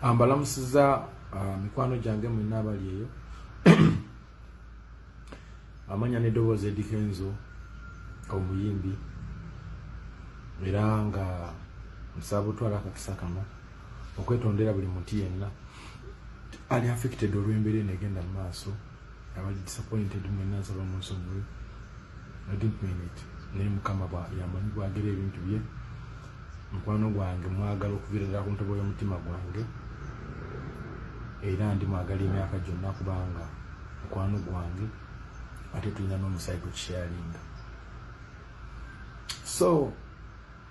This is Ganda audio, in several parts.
ambalamusiza ah, mikwano gyange mwena abali eyo amanya nedoboozi edikenzo omuyimbi era nga nsaba butwala akakisa kano okwetondera buli muntu yenna ali affected olw'embeera eno egenda mu maaso abali disappointed mwena nsaba munsonyiwe i didn't mean it naye mukama yamanyi bwagera ebintu bye mukwano gwange mwagala okuvirira ku ntobo y'omutima gwange era ndi mwagala emyaka gyonna kubanga mukwano gwange ate tulina n'omusaayi gwe kisharinga so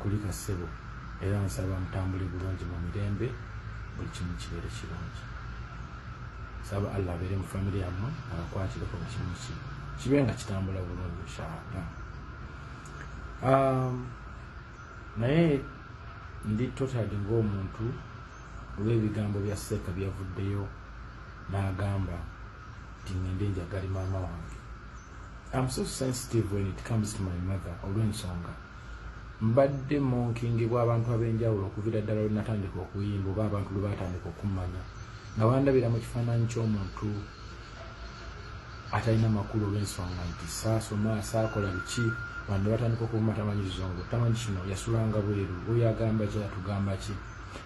kulika ssebo era nsaba mutambule bulungi mu mirembe buli kimu kibeere kirungi saba allah abeere mu famiry yammwe abakwatireko mu kimu ki kibe nga kitambula bulungi inshaallah um, naye ndi totad ngaomuntu olw'ebigambo bya seeka byavuddeyo n'agamba nti ngende njagale maama wange Am so sensitive when it comes to my mother olw'ensonga mbadde monkingibwa abantu ab'enjawulo okuvira ddala lwe natandika okuyimba oba abantu lwe batandika okummanya nga bandabira mu kifaananyi ky'omuntu atalina makulu olw'ensonga nti saasoma saakola biki bande batandika okuvuma tamanyi kizungu tamanyi kino yasulanga bweru oyo agamba ki atugamba ki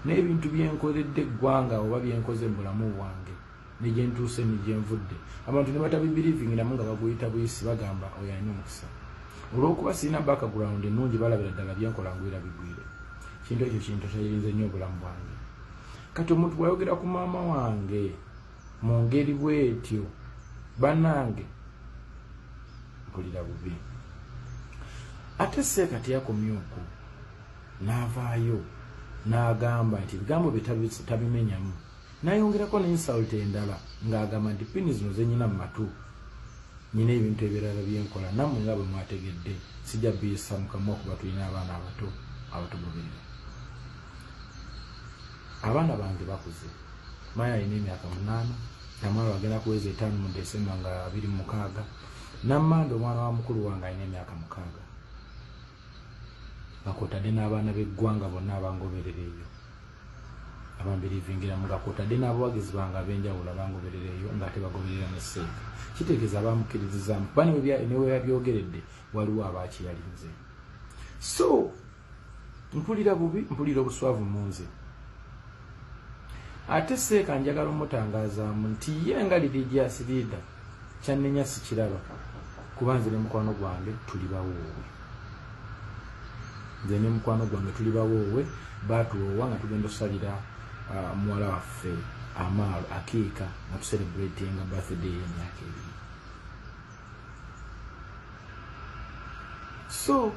n'ebintu byenkoledde eggwanga oba byenkoze mu bulamu bwange ne gye ntuuse ne gye nvudde abantu ne batabibirivingamu nga baguyita buyisi bagamba oyo alina omukisa olw'okuba sirina background ennungi balabira ddala bye nkola ngwira bigwire kintu ekyo kintu kyayirinze nnyo obulamu bwange kati omuntu bwayogera ku maama wange mu ngeri bwetyo banange mpulira bubi ate seeka teyakomye oku n'avaayo n'agamba nti ebigambo bye tabimenyamu Nayongerako ne insult endala nga agamba nti pini zino zenyina mu matu nyina ebintu ebirala byenkola namwe nga bwe mwategedde sijja biyisa mukamwa okuba tulina abaana abato abatugoberera abaana bange bakuze maya alina emyaka munaana namwana wagenda kuweza etaano mu desemba nga abiri mukaaga namanda omwana wa mukulu wange alina emyaka mukaaga nga kwotadde n'abaana b'eggwanga bonna abangoberera eyo abambirivingira nga kwotadde n'abawagizi bange ab'enjawulo abangoberera eyo ng'ate bagoberera ne seeka kitegeeza abamukkiririzaamu kuba neweyabyogeredde waliwo abaakiyalinze so mpulira bubi mpulira obuswavu mu nze ate seeka njagala omutangaazaamu nti ye nga lirigyasiriida Kyannenya sikiraba kuba nze ne mukwano gwange tuli bawoowe. Nze ne mukwano gwange tuli bawoowe baatuwoowa nga tugenda osalira uh, muwala waffe amaalo akiika nga tuserebratinga birthday y'emyaka ebiri. So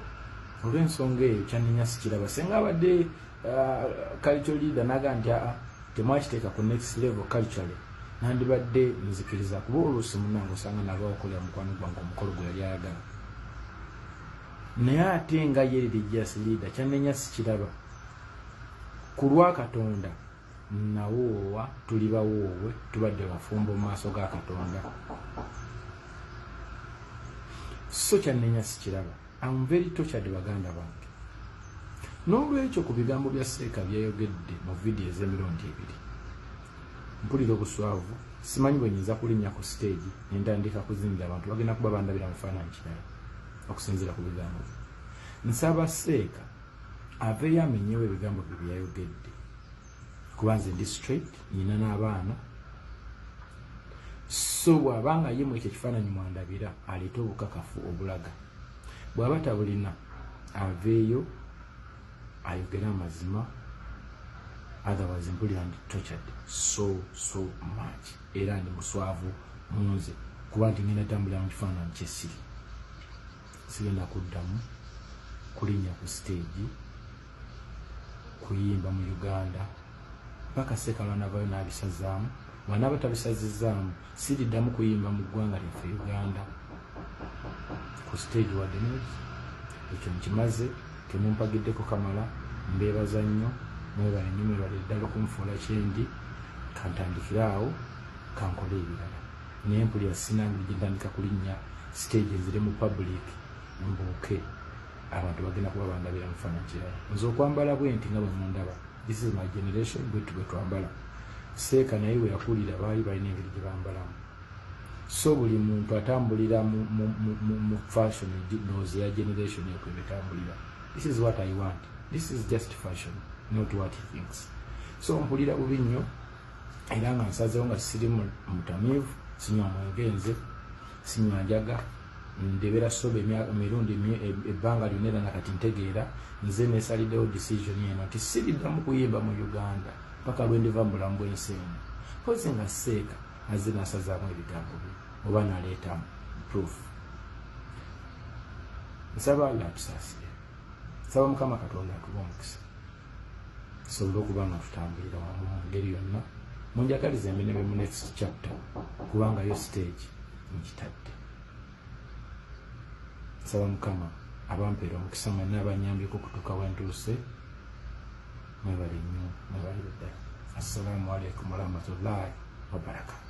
olw'ensonga eyo kyannenya sikiraba senga abadde uh, culture leader naga nti aa temwakiteeka ku next level culturally nandibadde nzikiriza kuba oluusi munange osanga nalwa okolera mukwano gwange omukolo gwe yali ayagala naye ate nga ye religious leader kyanenya sikiraba ku lwa katonda nawoowa tuli bawoowe tubadde bafumbo mu maaso ga katonda so kyanenya sikiraba Am very tortured baganda bange. N'olwekyo ku bigambo bya Seeka byeyogedde mu vidiyo ez'emirundi ebiri, mpulira obuswavu, simanyi bwe nyinza kulinnya ku siteegi ne ntandika kuzinira abantu bagenda kuba bandabira mu kifaananyi kirala okusinziira ku bigambo bye. Nsaba Seeka aveeyo amenyewo ebigambo bye bye yayogedde. kuba nze ndi straight nyina n'abaana so bw'aba nga ye mu ekyo ekifaananyi mwandabira aleeta obukakafu obulaga bw'aba tabulina aveeyo ayogere amazima otherwise mpulira ndi tortured so so much era ndi muswavu munze kuba nti ngenda tambulira mu kifaananyi kyesiri sigenda kuddamu kulinnya ku siteegi kuyimba mu uganda mpaka sekalwa navayo nabisazaamu wanaba tabisazizaamu siriddamu kuyimba mu ggwanga lyaffe uganda ku stage wadde nezi ekyo nkimaze temumpagiddeko kamala mbeebaza nnyo mwebale nnyo mwebale ddala okunfuula kyendi kantandikire awo kankole ebirala naye mpulira sinange gyentandika kulinnya stage nzire mu public mbuuke abantu bagenda kuba bandabira mufana kirala nze okwambala bwenti nga bwemundaba this is my generation bwetu bwetwambala seeka naye weyakulira baali balina engeri gyebambalamu so buli muntu atambulira mu fashion nozi ya generation ekwe betambulira this is what i want this is just fashion not what he thinks so mpulira bubi nnyo era nga nsazewo nga siri mutamiivu sinywa mwengenze sinywa njaga ndebera soba emirundi e, ebbanga lyona era nga kati ntegeera nze nesaliddewo decision eno nti siriddamu kuyimba mu uganda paka lwendiva mu bulamu bwensi eno kozi nga seeka azze nasazaamu ebigambo bye oba naleetamu proof nsaba alla atusaasire nsaba mukama katonda atuba omukisa tusobole okuba nga tutambulira wamu mu ngeri yonna munjagaliza emirimu mu next chapter kubangayo stage mukitadde nsaba mukama abampeera omukisa mwenna abanyambyeko okutuuka wentuuse mwebale nnyo mwebale ddala assalamu alaikum warahmatullahi wabarakatu